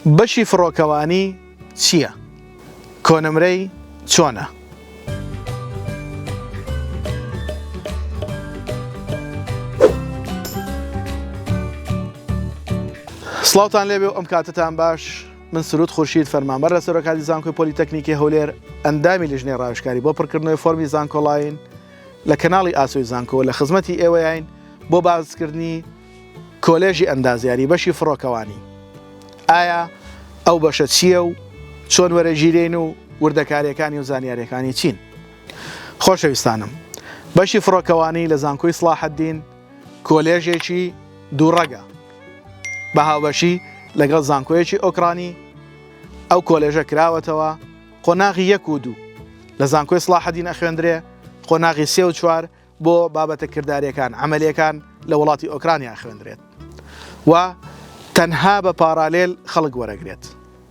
بەشی فڕۆکەوانی چیە کۆنمرەی چۆنە. سڵاوتان لێبێ و ئەم کاتتان باش من سرود خورشید فەرمانبەر لە سەرۆکاتی زانکۆی پۆلیتەکنیکی هەولێر ئەندامی لیژنەی ڕاوشکاری بۆ پڕکردنەوەی فۆرمی زانکۆڵین لە کەناڵی ئاسۆی زانکۆ لە خزمەتی ئێوەیین بۆ باسکردنی کۆلێژی ئەندازیاری بەشی فڕۆکەوانی ئایا ئەو بەشە چییە و چۆن وەرەگیرێین و وردەکاریەکانی و زانیاریەکانی چین خۆشەویستانم بەشی فڕۆکەوانی لە زانکۆی سڵاحەدین کۆلێژێکی دووڕەگە بە هاوبەشی لەگەڵ زانکۆیەکی ئۆکرانی ئەو کۆلێژە کراوەتەوە قۆناغی یەک و دوو لە زانکۆی سڵاحەدین ئەخوێندرێ قۆناغی سێ و چوار بۆ بابەتە کرداریەکان، عەمەلیەکان، لە وڵاتی ئۆکرانیا ئەخوێندرێت و تەنها بە پارالێل خەڵک وەرەگرێت.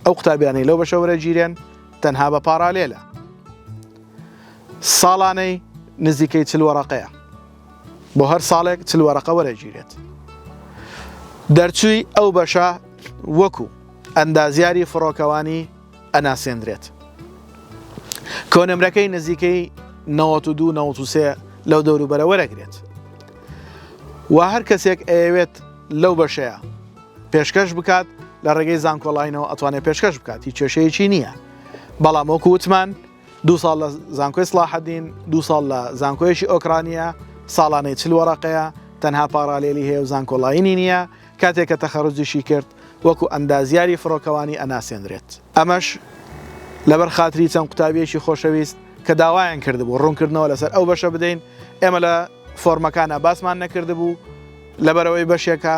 ئەو قوتابیانەی لەو بەشە وەرەگیرێن تەنها بە پارالێلە. ساڵانەی نزیکەی چل وەرەقەیە. بۆ هەر ساڵێک چل وەرەقە وەرەگیرێت. دەرچووی ئەو بەشە وەکو ئەندازیاری فڕۆکەوانی ئەناسێندرێت کۆنمرەکەی نزیکەی نەوەت و دوو نەوەت و سێ لەو دەوروبەرە وەرەگرێت و هەر کەسێک ئەیەوێت لەو بەشەیە پێشکەش بکات لە ڕێگەی زانکۆڵینەوە ئەتوانێت پێشکەش بکات هیچ کێشەیەکی نییە بەڵام وەکو وتمان دوو ساڵ لە زانکۆی سڵاحەدین، دوو ساڵ لە زانکۆیەکی ئۆکرانییە، ساڵانەی چل وەرەقەیە، تەنها پاڕالێلی هەیە و زانکۆڵاینی نییە، کاتێ کە تەخەروجیشی کرد وەکو ئەندازیاری فڕۆکەوانی ئەناسێنرێت. ئەمەش لەبەر خاتری چەند قوتابییەکی خۆشەویست کە داوایان کردبوو ڕوونکردنەوە لەسەر ئەو بەشە بدەین، ئێمە لە فۆرمەکانا باسمان نەکردبوو، لەبەرئەوەی بەشێکە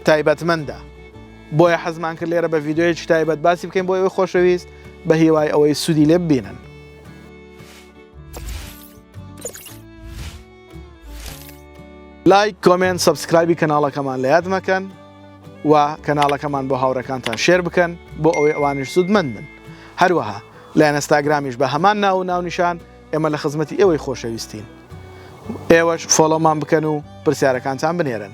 تایبەتمەندە. بۆیە حەزمان کرد لێرە بە ڤیدیۆیەکی تایبەت باسی بکەین بۆ ئەوی خۆشەویست بە هیوای ئەوەی سوودی لێ ببینن لایک کۆمنت سبسکرایبی کەناڵەکەمان لە یاد مەکەن و کەناڵەکەمان بۆ هاوڕەکانتان شێر بکەن بۆ ئەوەی ئەوانش سوودمەند من هەروەها لە ئەنستاگرامیش بە هەمان ناو و ناونیشان ئێمە لە خزمەتی ئێوەی خۆشەویستین ئێوەش فۆڵۆمان بکەن و پرسیارەکانتان بنێرن